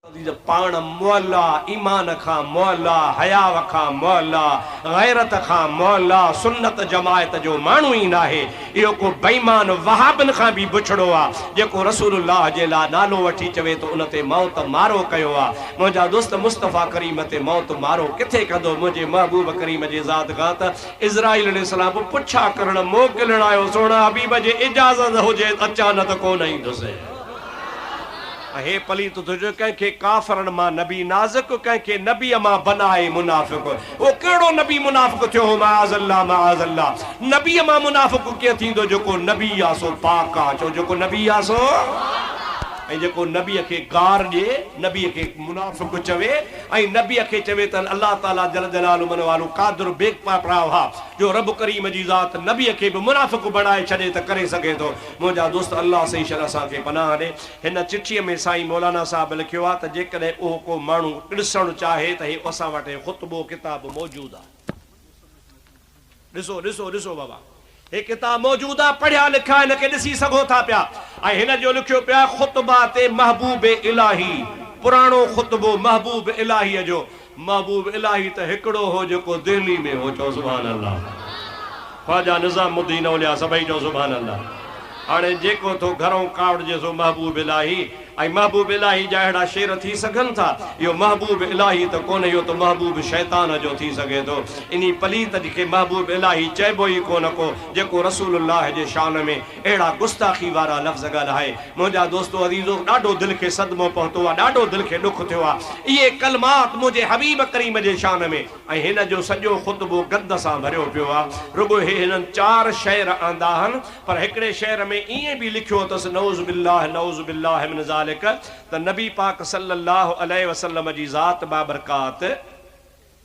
عزيز پاڻ معليٰ، ايمان کان معليٰ، حياء کان معليٰ، غيرت کان معليٰ، سنت جماعت جو ماڻهو ئي ناهي، اهو ڪو بيمان وهابن کان به بڇڙو آ، جيڪو رسول الله جي لا نالو وٺي چوي ٿو ان تي موت مارو ڪيو آ، منهنجا دوست مصطفيٰ ڪريم تي موت مارو ڪٿي ڪندو، منهنجي محبوب ڪريم جي ذات کان ته عزرائيل عليه السلام به پڇا ڪرڻ موڪلڻ آيو، سهڻا حبيب جي اجازت هجي اچان نه ته ڪونه ايندس. اهي پليت اٿو جو ڪنهن کي ڪافرن مان نبي نازڪ ڪنهن کي نبيء مان بنائي منافق اهو ڪهڙو نبي منافق ٿيو هو معاذ الله معاذ الله نبيء مان منافق ڪيئن ٿيندو جيڪو نبي آ سو پاڪ آ چئو جيڪو نبي آ سو ۽ جيڪو نبيء کي گار ڏي نبيء کي منافق چوي ۽ نبيء کي چوي ته الله تعالي جل جلاله من والو قادر بيگ پا پرا وها جو رب ڪريم جي ذات نبيء کي به منافق بڻائي ڇڏي ته ڪري سگهي ٿو منهنجا دوست الله سائين شل اسان کي پناهه ڏي. هن چٺيء ۾ سائين مولانا صاحب لکيو آهي ته جيڪڏهن اهو ڪو ماڻهو ڏسڻ چاهي ته هي اسان وٽ هي خطبو ڪتاب موجود آهي. ڏسو ڏسو ڏسو بابا هي ڪتاب موجود آهي پڙهيا لکا هن کي ڏسي سگهو ٿا پيا ۽ هن جو لکيو پيو آهي خطبه تي محبوب الاهي پراڻو خطبو محبوب الاهيء جو محبوب الاھي ته ھڪڙو ھو جيڪو دھلي ۾ ھو چئو سبحان الله خواجه نظام الدين اولياء سڀئي چئو سبحان الله ھاڻي جيڪو ٿو گھرئون ڪاوڙجي سو محبوب الاھي ۽ محبوب الاھي جا اھڙا شعر ٿي سگھن ٿا اھو محبوب الاھي ته ڪونھ اھو ته محبوب شيطان جو ٿي سگھي ٿو انھي پليت کي محبوب الاھي چئبو ئي ڪونھ ڪو جيڪو رسول الله جي شان ۾ اهڙا گستاخي وارا لفظ ڳالهائي منهنجا دوستو عزيزو ڏاڍو دل کي صدمو پهتو آ ڏاڍو دل کي ڏک ٿيو آ اهي ڪلمات منهنجي حبيب ڪريم جي شان ۾ ۽ هن جو سڄو خطبو گند سان ڀريو پيو آ رڳو هي هنن چار شعر آندا هن پر هڪڙي شعر ۾ ائين به لکيو اٿس نعوذ بالله نعوذ بالله من ذالڪ ته نبي پاڪ صلي الله عليه وسلم جي ذات بابرڪات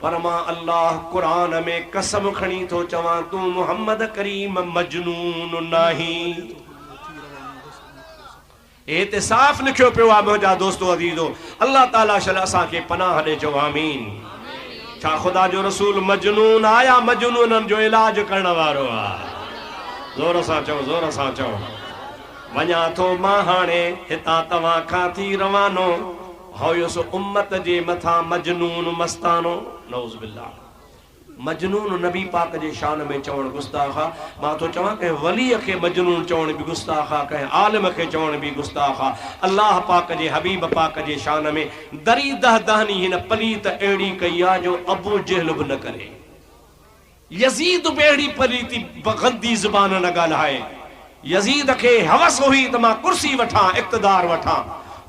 پر مان الله قرآن ۾ قسم کڻي ٿو چوان تون محمد ڪريم مجنون ناهين. هي هتي صاف لکيو پيو آهي منهنجا دوستو عزيزو الله تعالي شل اسان کي پناهه ڏي چئو آمين. ڇا خدا جو رسول مجنون آ يا مجنونن جو علاج ڪرڻ وارو آ زور سان چئو زور سان چئو. وڃان ٿو مان هاڻي هتان توهان کان ٿي روانو. هيس امت جي مٿان مجنون مستانو نعوذ بالله مجنون نبي پاڪ جي شان ۾ چوڻ گستاخ آ مان ٿو چوان ڪنهن ولي کي مجنون چوڻ به گستاخ آ ڪنهن عالم کي چوڻ به گستاخ آ الله پاڪ جي حبيب پاڪ جي شان ۾ دري دهدهني هن پليت اهڙي ڪئي آ جو ابوجهل به نه ڪري. يزيد به اهڙي پليتي گندي زبان نه ڳالهائي. يزيد کي حوس هئي ته مان ڪرسي وٺان، اقتدار وٺان.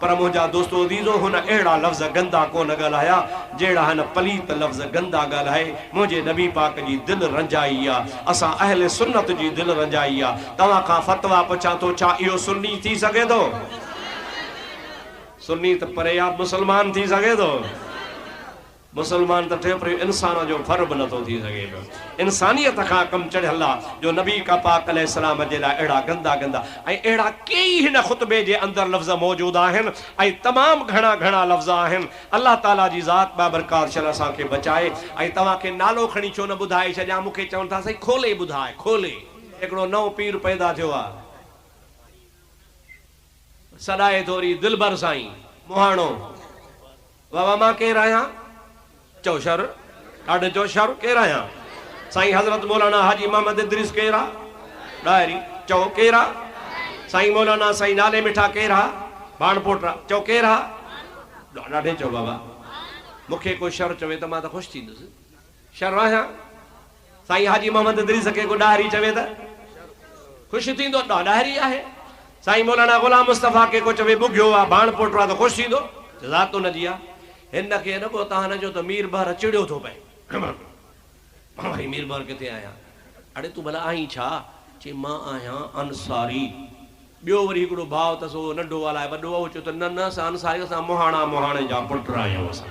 پر منهنجا دوستو عزيزو هن اهڙا لفظ گندا ڪونه ڳالهايا، جهڙا هن پليت لفظ گندا ڳالهائي. منهنجي نبي پاڪ جي دل رنجائي آ. اسان اهل سنت جي دل رنجائي آ. توهان کان فتويٰ پڇان ٿو ڇا اهو سني ٿي سگهي ٿو؟ سني ته پري آ، مسلمان ٿي سگهي ٿو؟ مسلمان ته ٺهي پر اهو انسان جو ڦر به نٿو ٿي سگهي پيو. انسانيت کان ڪم چڙهيل آهي جو نبي ڪا پاڪ عليه السلام جي لاء اهڙا گندا گندا ۽ اهڙا ڪيئي هن خطبي جي اندر لفظ موجود آهن ۽ تمام گهڻا گهڻا لفظ آهن الله تعالي جي ذات بابرڪار شان اسان کي بچائي ۽ توهان کي نالو کڻي ڇو نه ٻڌائي ڇڏيان مون کي چون ٿا سائين کولي ٻڌاء کولي هڪڙو نئون پير پيدا ٿيو آهي. سڏائي ٿو ري دلبر سائين مهاڻو. واھ واھ مان ڪير آهيان چئو شر ڏاڍي چئو شر ڪير آهيان سائين حضرت مولانا حاجي محمد ادريس ڪير آ ڏاهري چئو ڪير آ سائين مولانا سائين نالي مٺا ڪير آ ڀاڻ پوٽرا چئو ڪير آ ڏاڍي چئو بابا مون کي ڪو شر چوي ته مان ته خوش ٿيندس شر آهيان. سائين حاجي محمد ادريس کي ڪو ڏاهري چوي ته خوش ٿيندو؟ ڏاه ڏاهري آهي. سائين مولانا غلام مصطفيٰ کي ڪو چوي ٻگهيو آ، ڀاڻ پوٽو آ ته خوش ٿيندو؟ ذات ان جي آ. هن کي اڏ ٻهتاهن جو ته مير بحر چڙيو ٿو پئي. مان وري مير بحر ڪٿي آهيان؟ اڙي تون ڀلا آهين ڇا؟ چي مان آهيان انصاري. ٻيو وري هڪڙو ڀاء اٿس اهو ننڍو آ الاء وڏو آ اهو چيو ته نه نه اسان انصاري اسان مهاڻا مهاڻي جا پٽ آهيون اسان.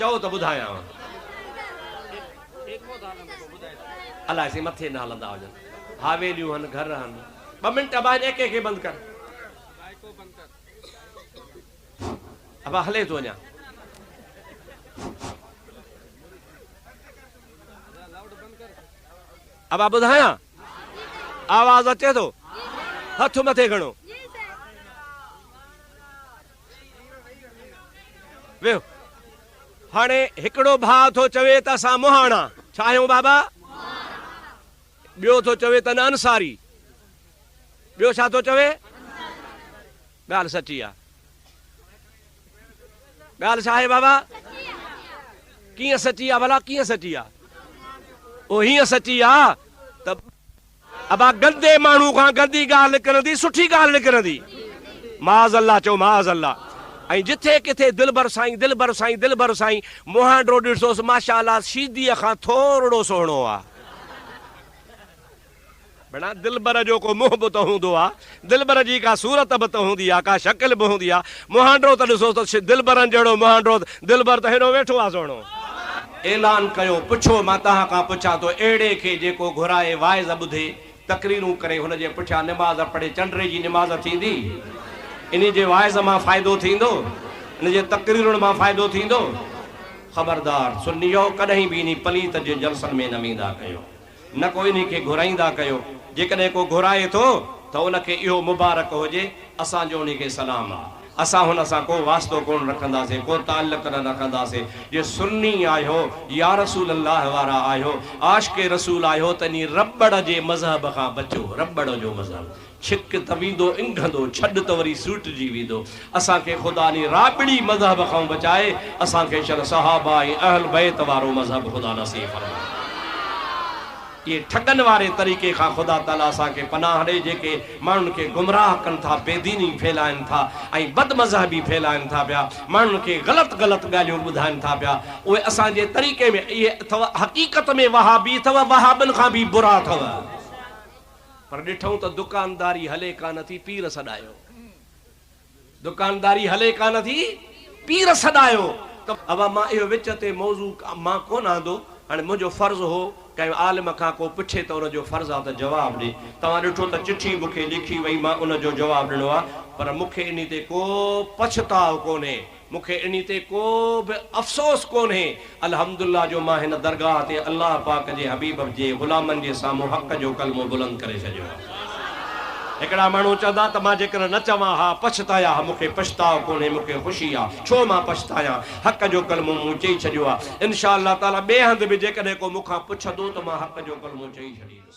چئو ته ٻڌايانء. الاء سائين مٿي نه هلندا هجن. حاويليون هن، گهر هن. ٻه منٽ ابا هن ايڪي کي بند ڪر. ابا هلي ٿو اڃا. ابا ٻڌايان؟ آواز اچي ٿو؟ هٿ مٿي کڻو. ويهه. هاڻي هڪڙو ڀاء ٿو چوي ته اسان مهاڻا، ڇا آهيون بابا؟ ٻيو ٿو چوي ته نه انصاري. ٻيو ڇا ٿو چوي؟ ڳالهه سچي آ. ڳالهه ڇا آهي بابا؟ ڪيئن سچي آ ڀلا ڪيئن سچي آ؟ او هيئن سچي آ ته ابا گندي ماڻهو کان گندي ڳالهه نڪرندي سٺي ڳالهه نڪرندي. معاذ الله چئو معاذ الله ۽ جٿي ڪٿي دلبر سائين دلبر سائين دلبر سائين مهانڊو ڏٺوس ماشاء الله شيديء کان ٿورڙو سهڻو آ. ڀيڻا دلبر جو ڪو منهن به ته هوندو آ. دلبر جي ڪا صورت به ته هوندي آ، ڪا شڪل به هوندي آ. مهانڊرو ته ڏسو ته دلبرن جهڙو مهانڊرو ته دلبر ته هيڏو ويٺو آ سهڻو. اعلان ڪيو، پڇو مان توهان کان پڇان ٿو اهڙي کي جيڪو گهرائي واعظ ٻڌي، تقريرون ڪري، هن جي پٺيان نماز پڙهي، چنڊري جي نماز ٿيندي؟ انهي جي واعظ مان فائدو ٿيندو؟ ان جي تقريرن مان فائدو ٿيندو؟ خبردار سنيو ڪڏهن به انهي پليت جي جلسن ۾ نه ويندا ڪيو. نه ڪو انهي کي گهرائيندا ڪيو، جيڪڏهن ڪو گهرائي ٿو ته ان کي اهو مبارڪ هجي، اسان جو انهي کي سلام آهي، اسان هن سان ڪو واسطو ڪونه رکنداسين، ڪو تعلق نه رکنداسين، جي سني آهيو، يا رسول الله وارا آهيو، عاشق رسول آهيو ته انهي رٻڙ جي مذهب کان بچو، رٻڙ جو مذهب. ڇڪ ته ويندو انگهندو، ڇڏ ته وري سوٽجي ويندو. اسان کي خدا ني رابڙي مذهب کان بچائي اسان کي شل صحابه ۽ اهل بيت وارو مذهب خدا نصيب فرمائي. اهي ٺڳن واري طريقي کان خدا تعالي اسان کي پناهه ڏي جيڪي ماڻهن کي گمراهه ڪن ٿا، بي ديني ڦهلائن ٿا ۽ بد مذهبي ڦهلائن ٿا پيا، ماڻهن کي غلط غلط ڳالهيون ٻڌائن ٿا پيا، اهي اسان جي طريقي ۾ اهي اٿو حقيقت ۾ وهابي اٿو وهابين کان به برا اٿو. پر ڏٺئون ته دڪانداري هلي ڪانه ٿي، پير سڏايو. دڪانداري هلي ڪانه ٿي، پير سڏايو ته اوا مان اهو وچ تي موضوع مان ڪونه آندو، هاڻي منهنجو فرض هو ڪنهن عالم کان ڪو پڇي ته ان جو فرض آ ته جواب ڏي، توهان ڏٺو ته چٺي مون کي لکي وئي مان ان جو جواب ڏنو آ، پر مون کي انهي تي ڪو پڇتاء ڪونهي. مون کي انهي تي ڪو به افسوس ڪونهي، الحمدالله جو مان هن درگاهه تي الله پاڪ جي حبيب جي غلامن جي سامهون حق جو ڪلمو بلند ڪري ڇڏيو آهي. هڪڙا ماڻهو چوندا ته مان جيڪڏهن نه چوان ها پڇتايا ها، مون کي پڇتاء ڪونهي، مون کي خوشي آ، ڇو مان پڇتايان، حق جو ڪلمو مون چئي ڇڏيو آ، انشاء الله تعالٰي ٻئي هنڌ به جيڪڏهن ڪو مون کان پڇندو ته مان حق جو ڪلمو چئي ڇڏيندس.